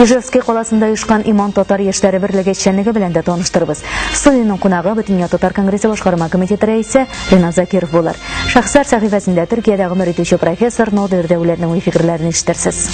Ижевский каласында оешкан Иман татар яшьләре берлеге эшчәнлеге белән дә таныштырбыз. Студиянең кунагы Бөтенләй татар конгрессы башкарма комитеты рәисе Ринат Закиров булыр. Шәхесләр сәхифәсендә Төркиядә гомер итүче профессор Нодыр Дәүләрнең уй фикерләрен ишетерсез.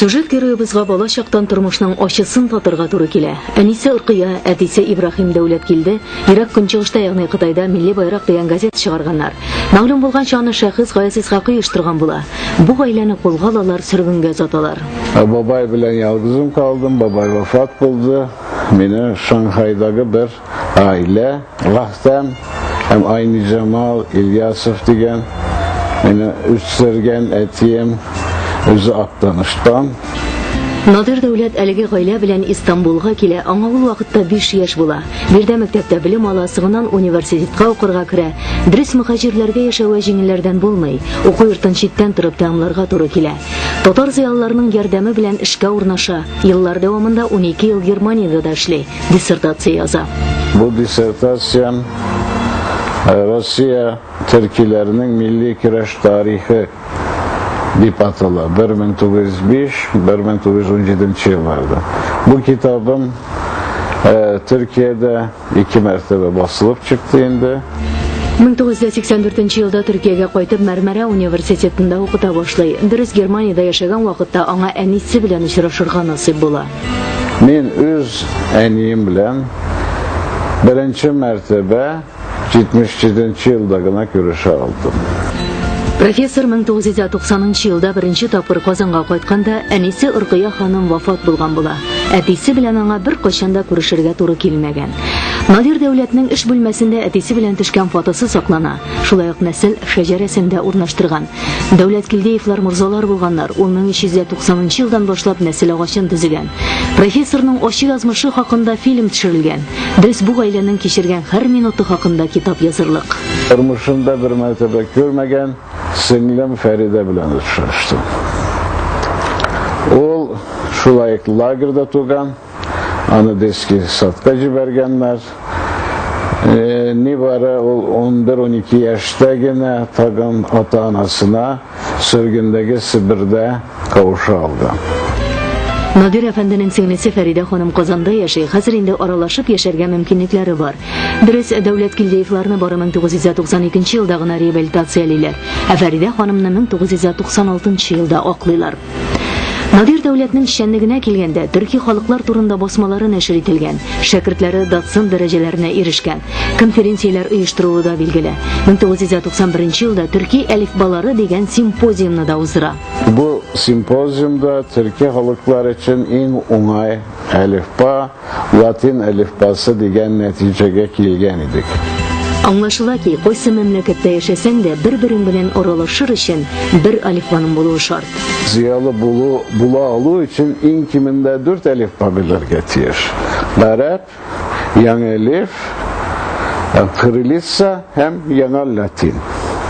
Сюжет героебызга бала чактан тормышның ачысын татырга туры килә. Әнисе Уркыя, әтисе Ибраһим Дәүләт килде. Ирак көнчыгышта, ягъни Кытайда Милли байрак дигән газет чыгарганнар. Мәгълүм булганча, аны шәхес Гаяз Исхакый оештырган була. Бу гаиләне кулга алалар, сөргенгә озаталар. Ә бабай белән ялгызым калдым, бабай вафат булды. Мине Шанхайдагы бер гаилә, Рәхтәм һәм Айнизамал Ильясов дигән мине үстергән әтием үзе Актаныштан. Надир Дәүләт әлеге гаилә белән Истанбулга килә. Аңа ул вакытта биш яшь була. Биредә мәктәптә белем ала, соңыннан университетка укырга керә. Дөрес, мөхаҗирләргә яшәве җиңелләрдән булмый. Уку йортын читтән торып тәмамларга туры килә. Татар зыялыларының ярдәме белән эшкә урнаша. Еллар дәвамында унике ел Германиядә дә эшли. диссертация яза. Бу диссертациям э, Россия төркиләренең милли көрәш тарихы дип атала 1905-1917 елларда. Бу китабым э, Төркиядә ике мәртәбә басылып чыкты инде. 1984 елда Төркиягә кайтып Мәрмәрә университетында укыта башлый. Дөрес Германиядә яшәгән вакытта аңа әнисе белән очрашырга насыйп була. Мин үз әнием белән беренче мәртәбә 77 нче елда гына күрешә алдым. Профессор 1990 елда беренче тапкыр Казанга кайтканда, әнисе Уркыя ханым вафат булган була. Әтисе белән аңа бер кайчан да күрешергә туры килмәгән. Надир Дәүләтнең эш бүлмәсендә әтисе белән төшкән фотосы саклана. шулай ук нәсел шәҗәрәсен дә урнаштырган. Дәүләт Килдеевлар морзалар булганнар, ул 1390 елдан башлап нәсел агачын төзегән. Профессорның ачы язмышы хакында фильм төшерелгән. Без бу гаиләнең кичергән һәр минуты хакында китап язырлык. Тормышымда бер мәртәбә күрмәгән сеңлем Фәридә белән очраштым. Ул шулай лагерьда туган. аны дески садка җибәргәннәр. Нибары ул 11-12 яшьтә генә тагын ата-анасына сөргендәге Себердә кавыша алды. Надир әфәнденең сеңлесе Фәридә ханым Казанда яши, хәзер инде аралашып яшәргә мөмкинлекләре бар. Дөрес, Дәүләт Килдеевларны бары 1992 елда гына реабилитациялиләр, ә Фәридә ханымны 1996 елда аклыйлар. Надир дәүләтнең эшчәнлегенә килгәндә, төрки халыклар турында басмалары нәшер ителгән, шәкертләре доцент дәрәҗәләренә ирешкән, конференцияләр оештыруы да билгеле. 1991 елда төрки әлифбалары дигән симпозиумны да уздыра. Бу симпозиумда төрки халыклар өчен иң уңай әлифба латин әлифбасы дигән нәтиҗәгә килгән идек. Аңлашыла ки, кайсы мәмләкәттә яшәсәң дә, бер-берең белән аралашыр өчен бер алифбаның булуы шарт. Зыялы булу, була алу өчен иң кимендә дүрт алифба белергә тиеш. Гарәп, яңа элиф, кырылица Һәм яңа латин.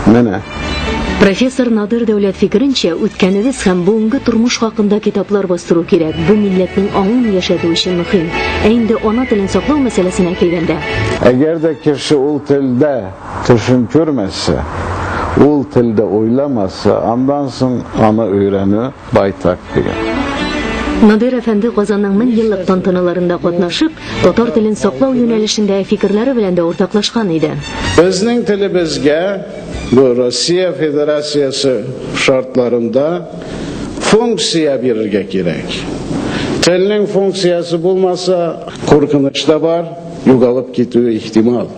Менә. Профессор Надыр Дәүләт фикеренчә, үткәнебез һәм бүгенге тормыш хакында китаплар бастыру кирәк. Бу милләтнең аңын яшәтү өчен мөһим. Ә инде ана телен саклау мәсьәләсенә килгәндә. Әгәр дә кеше ул телдә төшен күрмәсә, ул телдә уйламаса, андан соң аны өйрәнү, Байтак дигән. Надир әфәнде Казанның мең еллык тантаналарында катнашып, татар телен саклау юнәлешендә фикерләре белән дә уртаклашкан иде. Безнең телебезгә бу Россия Федерациясе шартларында функция бирергә кирәк. Телнең функциясе булмаса, куркыныч та бар, югалып китүе ихтимал.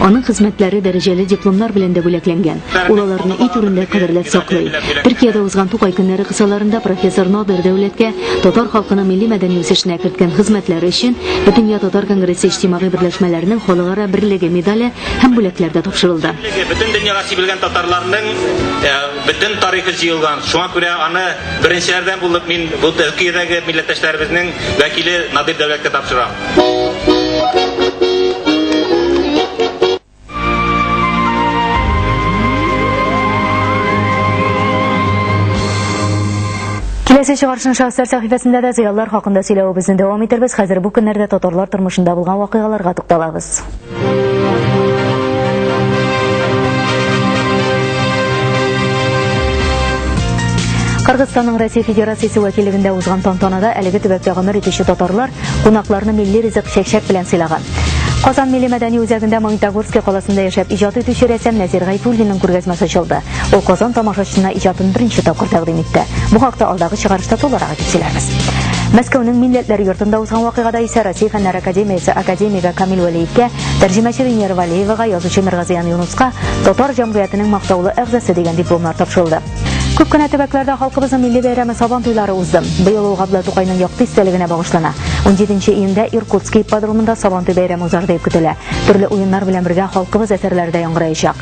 Аның хезмәтләре дәрәҗәле дипломнар белән дә бүләкләнгән. Ул аларны өй түрендә кадерләп саклый. Төркиядә узган Тукай көннәре кысаларында профессор Надыр Дәүләткә татар халкының милли-мәдәни үсешенә керткән хезмәтләре өчен Бөтендөнья татар конгрессы иҗтимагый берләшмәләренең халыкара берлеге медале һәм бүләкләр дә тапшырылды. Бөтен дөньяга сибелгән татарларның э, бөтен тарихы җыелган. Шуңа күрә аны беренчеләрдән булып мин бу Төркиядәге милләттәшләребезнең вәкиле Надыр Дәүләткә тапшырам. Киләсе чыгарышын шәхесләр сәхифәсендә дә зыяллар хакында сөйләвебезне дәвам итербез. Хәзер бу көннәрдә татарлар тормышында булган вакыйгаларга тукталабыз. Кыргызстанның Россия Федерациясе вәкилегендә узган тантанада әлеге төбәктә гомер итүче татарлар кунакларны милли ризык чәкчәк белән сыйлаган. Казан милли мәдәни үзәгендә Магнитогорский каласында яшәп иҗат итүче рәссам Нәзир Гайфуллинның күргәзмәсе ачылды. Ул Казан тамашачысына иҗатын беренче тапкыр тәкъдим итте. Бу хакта алдагы чыгарышта тулырак итеп сөйләрбез. Мәскәүнең Милләтләр йортында узган вакыйгада исә Россия фәннәр академиясе академигы Камил Вәлиевкә, тәрҗемәче Венера Валеевага, язучы Миргазиян Юнуска татар җәмгыятенең мактаулы әгъзасы дигән дипломнар тапшырылды. Күп кенә төбәкләрдә халкыбызның милли бәйрәме Сабан туйлары узды. Быел ул Габдулла Тукайның якты истәлегенә багышлана. 17 июньдә Иркутский ипподромында Сабантуй бәйрәме узар дип көтелә. Төрле уеннар белән бергә халкыбыз әсәрләре дә яңгыраячак.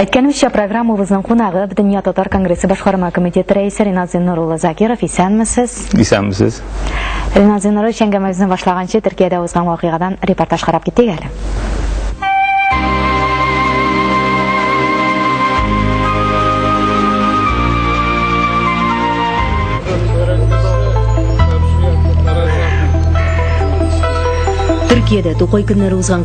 Әйткәнемчә, программабызның кунагы, Дөнья татар конгрессы башкарма комитеты рәисе Ринат Зиннур улы Закиров. Исәнмесез! Исәнмесез! Ринат Зиннур улы, әңгәмәбезне башлаганчы, Төркиядә узган вакыйгадан репортаж карап китик әле. Төркиядә Тукай көннәре узган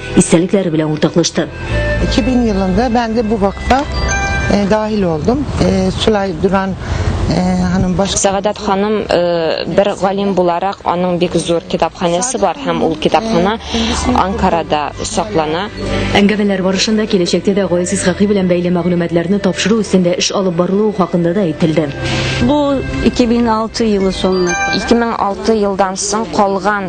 истәлекләре белән уртаклашты. 2000 елында ben de bu vakfa e, dahil oldum. E, Sülay Duran ханым баш Сәгадәт ханым бер галим буларак аның бик зур китапханәсе бар һәм ул китапхана Анкарада саклана. Әңгәмәләр барышында киләчәктә дә Гаяз Исхакый белән бәйле мәгълүматларны тапшыру өстендә эш алып барылуы хакында да әйтелде. Бу 2006 елы соңы. 2006 елдан соң калган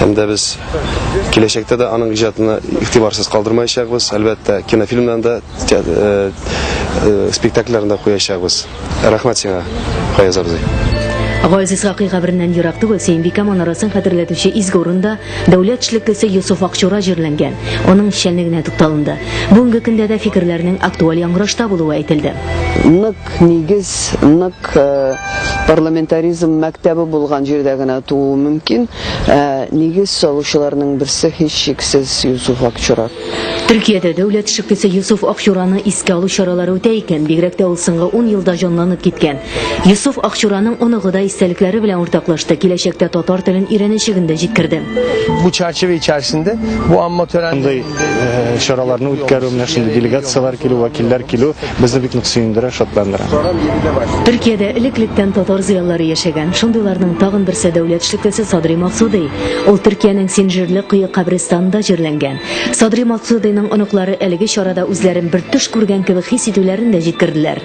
һәм дә без киләчәктә дә аның иҗатына игътибарсыз калдырмаячакбыз. Әлбәттә, кинофильмнан да, э, э, спектакльләрен дә куячакбыз. Рәхмәт сиңа, Фаяз абзый. Газиз Гакый кабереннән ерак түгел Сөембикә манарасын хәтерләтүче изге урында дәүләт эшлеклесе Йосыф Акчура җирләнгән. Аның эшчәнлегенә тукталынды. Бүгенге көндә дә фикерләрнең актуаль яңгырашта булуы әйтелде. Нык Нигез нык парламентаризм мәктәбе булган җирдә генә тууы мөмкин. Ә нигез салучыларның берсе һичшиксез Юсуф Акчурак. Төркиядә дәүләт шыкисе Йосыф Акчураны искә алу чаралары үтә икән, бигрәк тә ул соңгы 10 елда җанланып киткән. Йосыф Акчураның оныгы да истәлекләре белән уртаклашты, киләчәктә татар телен өйрәнәчәген дә җиткерде. Бу чарчыва ичәрсендә бу амма төрәнде. чараларны үткәрү, менә шундый делегацияләр килү, вәкилләр килү безне бик нык сөендерә, шатландыра. Төркиядә элек-электән татар зыялылары яшәгән. Шундыйларның тагын берсе дәүләт эшлеклесе Садри Максудый. Ул Төркиянең Синжирле кое кабристанында җирләнгән. Садри Максудыйның оныклары әлеге чарада үзләрен бер төш күргән кебек хис итүләрен дә җиткерделәр.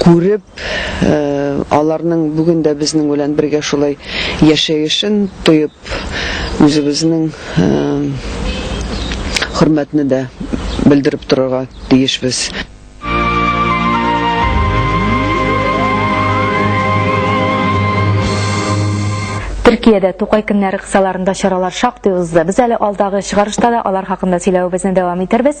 күреп, аларның бүген дә безнең белән бергә шулай яшәешен тоеп, үзебезнең хөрмәтне дә белдереп торырга тиешбез. Төркиядә Тукай көннәре кысаларында чаралар шактый узды. Без әле алдагы чыгарышта да алар хакында сөйләвебезне дәвам итербез.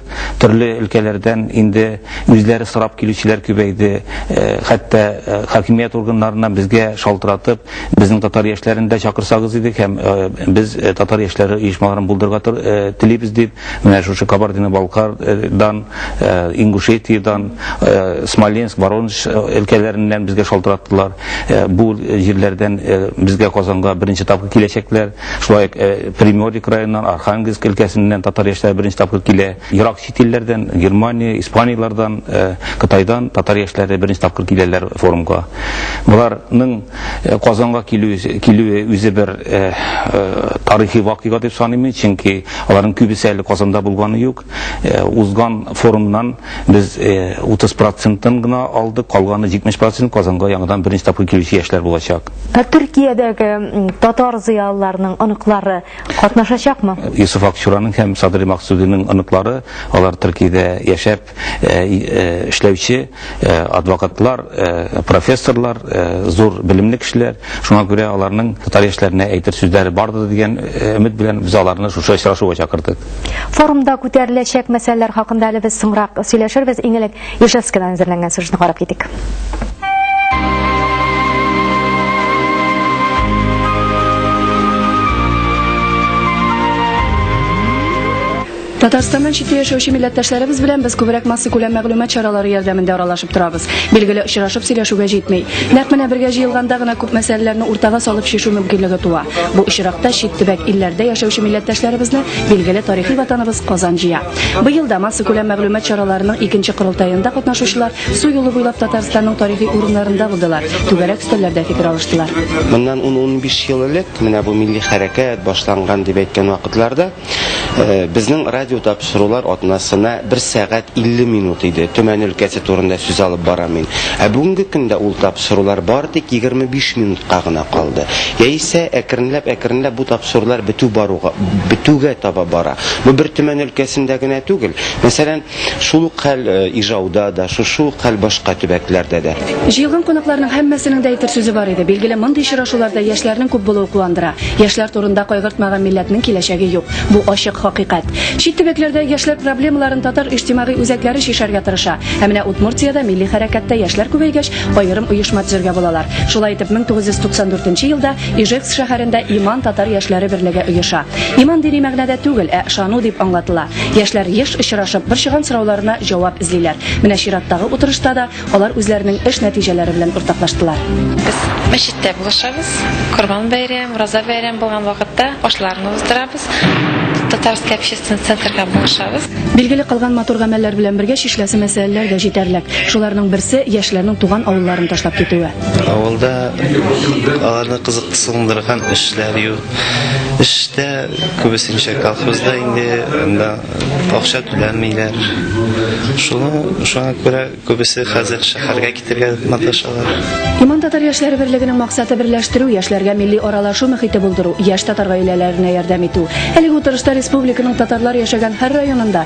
Төрле өлкәләрдән инде үзләре сорап килүчеләр күбәйде. Э, хәтта э, хакимият органнарыннан безгә шалтыратып, безнең татар яшьләрен дә чакырсагыз идек һәм э, без татар яшьләре оешмаларын булдырырга телибез дип, менә шушы Кабардино-Балкардан, Ингушетиядән, Смоленск, Воронеж өлкәләреннән безгә шалтыраттылар. Бу җирләрдән безгә Казанга беренче тапкыр киләчәкләр. Шулай ук Приморье краеннан, Архангельск өлкәсеннән татар яшьләре беренче тапкыр килә. Ерак чит илләрдән, Германия, Испанияләрдән, Кытайдан татар яшьләре беренче тапкыр киләләр форумга. Боларның Казанга килүе үзе бер тарихи вакыйга дип саныйм мин, чөнки аларның күбесе әле Казанда булганы юк. Узган форумнан без 30 процентын гына алдык, калганы 70 процент Казанга яңадан беренче тапкыр килүче яшьләр булачак. Ә Төркиядәге татар зыялыларының оныклары катнашачакмы? Йосыф Акчураның һәм Садри Максудиның оныклары, алар Төркиядә яшәп эшләүче. Э, адвокатлар э, профессорлар э, зур белемле кешеләр шуңа күрә аларның татар яшьләренә әйтер сүзләре бардыр дигән өмет белән без аларны шушы очрашуга чакырдык форумда күтәреләчәк мәсьәләләр хакында әле без соңрак сөйләшербез иң элек ижевскидан әзерләнгән сюжетны карап китик Татарстаннан читтә яшәүче милләттәшләребез белән без күбрәк масса күләм мәгълүмат чаралары ярдәмендә аралашып торабыз. Билгеле, очрашып сөйләшүгә җитми. Нәкъ менә бергә җыелганда гына күп мәсьәләләрне уртага салып чишү мөмкинлеге туа. Бу очракта чит төбәк илләрдә яшәүче милләттәшләребезне билгеле тарихи ватаныбыз Казан җыя. Быел да масса күләм мәгълүмат чараларының икенче корылтаенда катнашучылар су юлы буйлап Татарстанның тарихи урыннарында булдылар, түгәрәк өстәлләрдә фикер алыштылар. Моннан ун-унбиш ел элек менә бу милли хәрәкәт башланган дип әйткән вакытларда, Безнең радио тапшырулар атнасына бер сәгать 50 минут иде. Төмән өлкәсе турында сүз алып барам мин. Ә бүгенге көндә ул тапшырулар бары тик 25 минутка гына калды. Яисә әкренләп-әкренләп бу тапшырулар бетү баруга, бетүгә таба бара. Бу бер Төмән өлкәсендә генә түгел. Мәсәлән, Шул ук хәл Ижауда да, шушы ук хәл башка төбәкләрдә дә. Җыелган кунакларның һәммәсенең дә әйтер сүзе бар иде. Билгеле, мондый очрашуларда яшьләрнең күп булуы куандыра. Яшьләр турында кайгыртмаган милләтнең киләчәге юк. Бу ачык хакыйкать. Чит төбәкләрдә яшьләр проблемаларын татар иҗтимагый үзәкләре чишәргә тырыша. Ә менә Удмуртиядә милли хәрәкәттә яшьләр күбәйгәч, аерым оешма төзергә булалар. Шулай итеп, 1994 елда Ижевск шәһәрендә Иман татар яшьләре берлеге оеша. Иман дини мәгънәдә түгел, ә ышану дип аңлатыла. Яшьләр еш очрашып, борчыган сорауларына җавап эзлиләр. Менә чираттагы утырышта да алар үзләренең эш нәтиҗәләре белән уртаклаштылар. Без мәчеттә булышабыз. Корбан бәйрәм, Ураза бәйрәм булган вакытта ашларны уздырабыз. Татарский общественный центрга булышабыз. Билгеле кылган матур гамәлләр белән бергә чишеләсе мәсьәләләр дә җитәрлек. Шуларның берсе, яшьләрнең туган авылларын ташлап китүе. Авылда аларны кызыксындырган эшләр юк. Эштә күбесенчә колхозда инде анда акча түләмиләр. Шуны шуңа күрә күбесе хәзер шәһәргә китергә маташалар. Иман татар яшьләре берлегенең максаты берләштерү, яшьләргә милли аралашу мөхите булдыру, яшь татар гаиләләренә ярдәм итү. Әлеге утырышта республиканың татарлар яшәгән һәр районында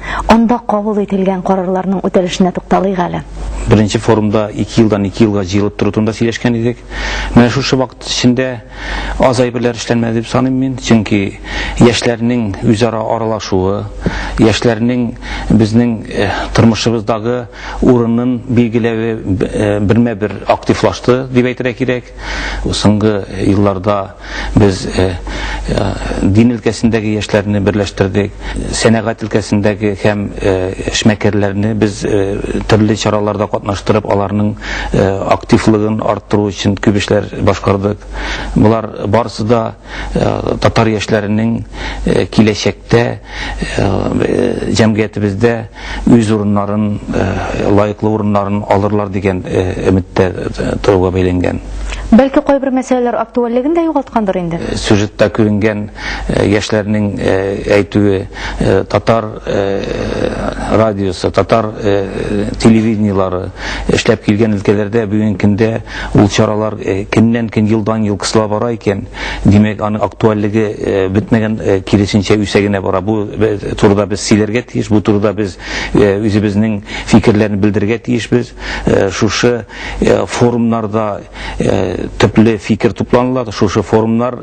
Анда кабул ителгән карарларның үтәлешенә тукталыйк әле. Беренче форумда ике елдан ике елга җыелып тору турында сөйләшкән идек. Менә шушы вакыт эчендә аз әйберләр эшләнмәде дип саныйм мин, чөнки яшьләрнең үзара аралашуы, яшьләрнең безнең э, тормышыбыздагы урынын билгеләве э, бермә-бер активлашты дип әйтергә кирәк. Соңгы елларда Без э, э, дин өлкәсендәге яшьләрне берләштердек, сәнәгать өлкәсендәге һәм э, эшмәкәрләрне без төрле чараларда катнаштырып, аларның активлыгын арттыру өчен күп эшләр башкардык. Болар барысы да татар яшьләренең киләчәктә җәмгыятебездә үз урыннарын, лаеклы урыннарын алырлар дигән өметтә торуга бәйләнгән. Бәлки кайбер мәсьәләләр актуальлеген дә югалткандыр инде? Сюжетта күренгән яшьләрнең әйтүе, татар радиосы, татар телевидениелары эшләп килгән өлкәләрдә бүгенге көндә ул чаралар көннән-көн, елдан-ел кысыла бара икән. Димәк, аның актуальлеге бетмәгән, киресенчә, үсә генә бара. Бу турыда без сөйләргә тиеш, бу турыда без үзебезнең фикерләрне белдерергә тиешбез. Шушы форумнарда төпле фикер тупланыла, шушы форумнар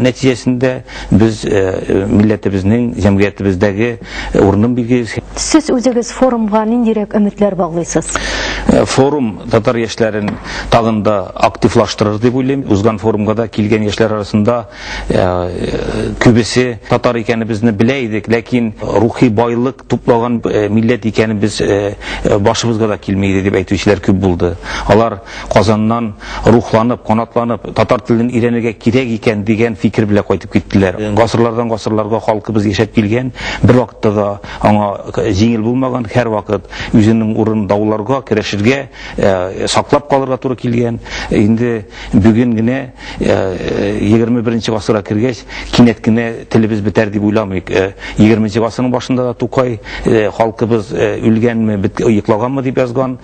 нәтиҗәсендә без милләтебезнең, җәмгыятебездәге, Урыным билгеле. Сез үзегез форумга ниндирәк өметләр баглыйсыз? Форум татар яшьләрен тагын да активлаштырыр дип уйлыйм. Узган форумга да килгән яшьләр арасында күбесе татар икәнебезне белә идек, ләкин рухи байлык туплаган милләт икәнебез башыбызга да килми иде дип әйтүчеләр күп булды. Алар. Казаннан рухланып, канатланып, татар телен өйрәнергә кирәк икән дигән фикер белән кайтып киттеләр. Гасырлардан гасырларга халкыбыз яшәп килгән, бервакытта да аңа җиңел булмаган, һәрвакыт үзенең урынын дауларга, көрәшергә, саклап калырга туры килгән. Инде бүген генә, егерме беренче гасырга кергәч, кинәт кенә телебез бетәр дип уйламыйк. Егерменче гасырның башында да Тукай, Халкыбыз үлгәнме, йоклаганмы дип язган.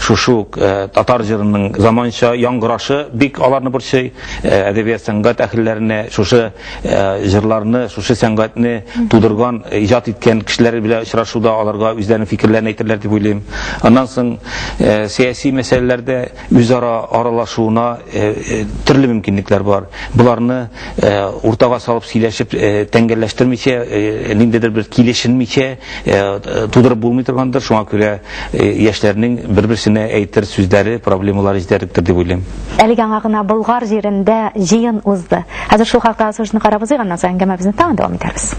Шушы ук татар җырының заманча яңгырашы бик аларны борчый. Әдәбият, сәнгать әһелләренә шушы җырларны, шушы сәнгатьне тудырган, иҗат иткән кешеләр белән очрашуда аларга үзләренең фикерләрен әйтерләр дип уйлыйм. Аннан соң сәяси мәсьәләләрдә үзара аралашуына төрле мөмкинлекләр бар. Боларны уртага салып сөйләшеп, тәңгәлләштермичә, ниндидер бер килешенмичә, тудырып булмый торгандыр, шуңа күрә яшьләрнең бер-берсенә әйтер сүзләре, проблемалары җитәрлектер дип уйлыйм. Әлеге аңа гына Болгар җирендә җыен узды. Хәзер шул хакта сюжетны карап узыйк, аннан соң әңгәмәбезне тагын дәвам итәрбез.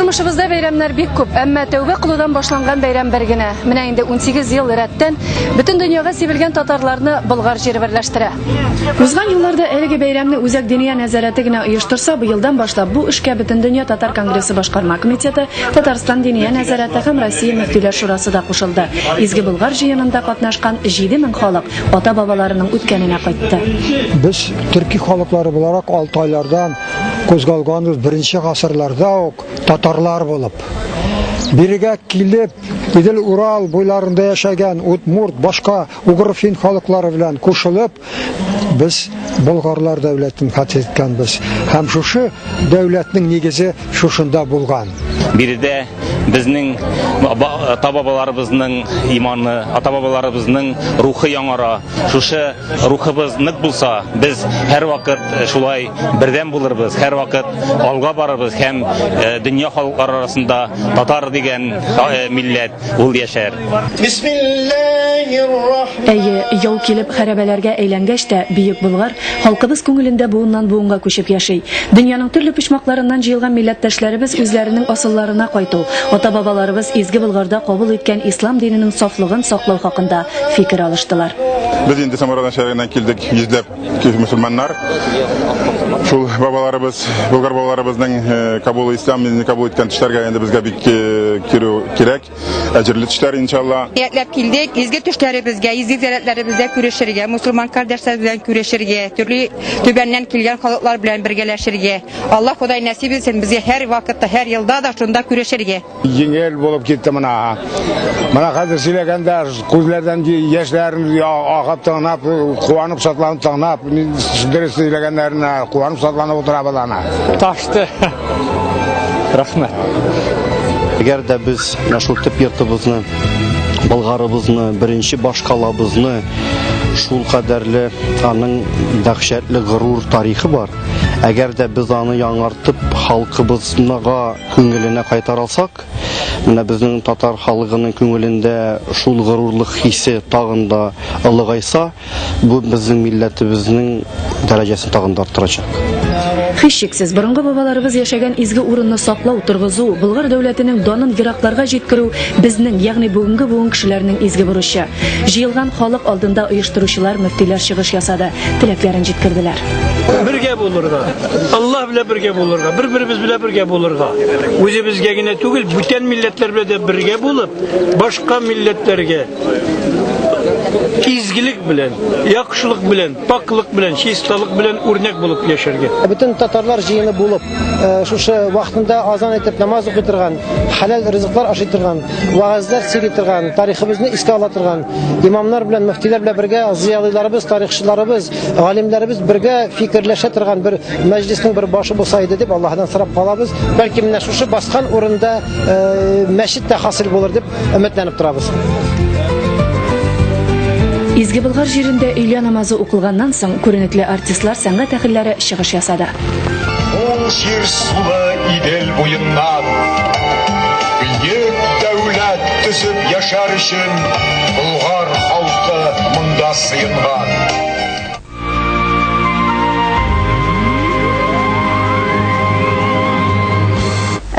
Тормышыбызда бәйрәмнәр бик күп, әмма тәүбә кылудан башланган бәйрәм бер генә. Менә инде 18 ел рәттән бөтен дөньяга сибелгән татарларны Болгар җире берләштерә. Узган елларда әлеге бәйрәмне Үзәк Диния нәзарәте генә оештырса, быелдан башлап бу эшкә Бөтендөнья татар конгрессы башкарма комитеты, Татарстан Диния нәзарәте һәм Россия мөфтиләр шурасы да кушылды. Изге Болгар җыенында катнашкан 7000 халык ата-бабаларының үткәненә кайтты. Без төрки халыклары буларак алтайлардан кузгалганбыз беренче гасырларда ук татарлар булып. Бирегә килеп, Идел Урал буйларында яшәгән удмурт, башка угрфин халыклары белән кушылып, без болгарлар дәүләтен хәтер иткәнбез. Һәм шушы дәүләтнең нигезе шушында булган. Биредә Безнең ата-бабаларыбызның иманы, ата-бабаларыбызның рухы яңара. Шушы рухыбыз нык булса, без һәрвакыт шулай бердәм булырбыз, һәрвакыт алга барырбыз һәм дөнья халыклары арасында татар дигән милләт ул яшәр. Әйе, яу килеп хәрәбәләргә әйләнгәч тә, Бөек Болгар Халкыбыз күңелендә буыннан-буынга күчеп яши. Дөньяның төрле почмакларыннан җыелган милләттәшләребез үзләренең асылларына кайту, ата-бабаларыбыз Изге Болгарда кабул иткән ислам диненең сафлыгын саклау хакында фикер алыштылар. Без инде Самара начальнигыннан килдек, йөзләп мөселманнар. Шул бабаларыбыз, Болгар бабаларыбызның кабул ислам динен кабул иткән төшләргә инде безгә бик керү кирәк. Әҗерле төшләр иншалла. Ниятләп килдек, изге төшләребезгә, изге зәләтләребездә күрешергә, мусульман кардәшләр белән күрешергә, төрле төбәннән килгән халыклар белән бергәләшергә. Алла Ходай нәсип итсен безгә һәр вакытта, һәр елда да шунда күрешергә. Җиңел булып китте мына. Мына хәзер сөйләгәндә күзләрдән яшьләр агып тыңлап, куанып шатланып тыңлап, дөрес сөйләгәннәренә куанып шатланып утырабыз ана. Ташты. Рәхмәт. Әгәр дә без менә шул төп йортыбызны, Болгарыбызны, беренче башкалабызны шул кадәрле аның дәһшәтле горур тарихы бар. Әгәр дә без аны яңартып халкыбызга күңеленә кайтара алсак, менә безнең татар халыгының күңелендә шул горурлык хисе тагын да олыгайса, Бу безнең милләтебезнең дәрәҗәсен тагын да арттырачак. Һичшиксез, борынгы бабаларыбыз яшәгән изге урынны саклау, торгызу, Болгар дәүләтенең данын еракларга җиткерү безнең, ягъни бүгенге буын кешеләренең изге бурычы. Җыелган халык алдында оештыручылар, мөфтиләр чыгыш ясады, теләкләрен җиткерделәр. Бергә булырга, Аллаһ белән бергә булырга, бер-беребез белән бергә булырга. Үзебезгә генә түгел, бүтән милләтләр белән дә бергә булып, башка милләтләргә, Изгелек белән, яхшылык белән, пакьлык белән, чисталык белән үрнәк булып яшәргә. Бөтен татарлар җыены булып, э, шушы вакытында азан итеп намаз укый торган, хәләл ризыклар ашый торган, вагазлар сөйли торган, тарихыбызны искә ала торган, имамнар белән, мөфтиләр белән бергә зыялыларыбыз, тарихчыларыбыз, галимнәребез бергә фикерләшә торган бер мәҗлиснең бер башы булса иде дип Аллаһыдан сорап калабыз. Бәлки менә шушы баскан урында э, мәчет тә хасил булыр дип Өметләнеп торабыз. Изге Болгар җирендә өйлә намазы укылганнан соң күренекле артистлар сәнгать әһелләре чыгыш ясады. Ул җир сулы Идел буеннан бөек дәүләт төзеп яшәр өчен Болгар халкы монда сыенган.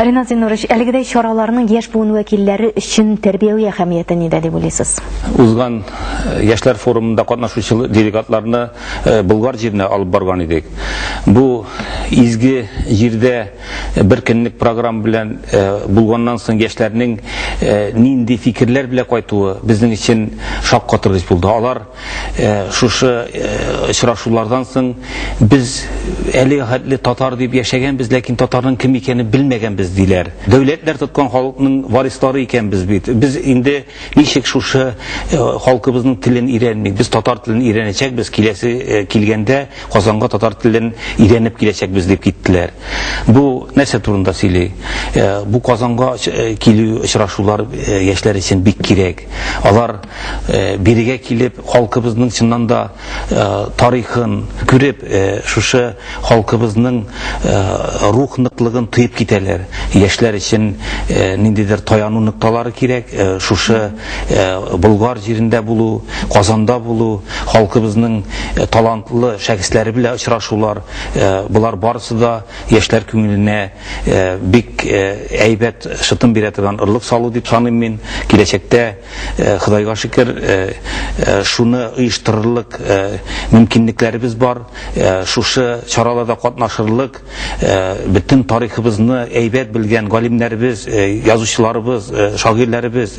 Ринат Зинурович, әлегедәй чараларның яшь буын вәкилләре өчен тәрбияви әһәмияте нидә дип уйлыйсыз? Узган э, яшьләр форумында катнашучы делегатларны э, Болгар җиренә алып барган идек. Бу изге җирдә э, бер көнлек программа белән булганнан соң яшьләрнең нинди фикерләр белән кайтуы безнең өчен шаккатыргыч булды. Алар Э, шушы э, очрашулардан соң без әле хәтле татар дип яшәгәнбез ләкин татарның кем икәнен белмәгәнбез диләр дәүләтләр тоткан халыкның варислары икәнбез бит без инде ничек шушы э, халкыбызның телен өйрәнмик без татар телен өйрәнәчәкбез киләсе килгәндә казанга татар телен өйрәнеп киләчәкбез дип киттеләр бу нәрсә турында сөйли бу казанга килү очрашулар яшьләр өчен бик кирәк алар бирегә килеп, халкыбызның чыннан да тарихын күреп, шушы халкыбызның рух ныклыгын тоеп китәләр. Яшьләр өчен ниндидер таяну нокталары кирәк, шушы Болгар җирендә булу, Казанда булу, халкыбызның талантлы шәхесләре белән очрашулар, болар барысы да яшьләр күңеленә бик әйбәт шытым бирә торган орлык салу дип саныйм мин. Киләчәктә Э, Худайга шөкер, э, э, шуны оештырырлык мөмкинлекләребез бар. Шушы чараларда катнашырлык бөтен тарихыбызны әйбәт белгән галимнәребез, язучыларыбыз, шагыйрьләребез,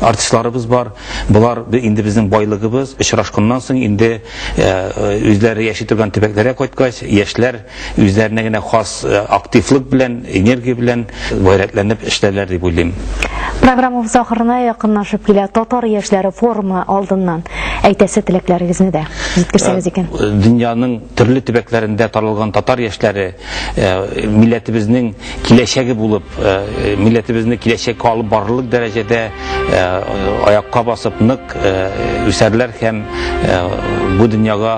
артистларыбыз бар. Болар инде безнең байлыгыбыз. Очрашканнан соң инде үзләре яши торган төбәкләргә кайткач, яшьләр үзләренә генә хас э, активлык белән, энергия белән гайрәтләнеп эшләрләр дип уйлыйм. Программабыз ахырына якынлашып килә. Татар яшьләре форумы алдыннан әйтәсе теләкләрегезне дә җиткерсәгез э, икән. Э, дөньяның төрле төбәкләрендә таралган татар яшьләре милләтебезнең киләчәге булып, милләтебезне киләчәккә алып барырлык дәрәҗәдә аякка басып нык үсәрләр һәм бу дөньяга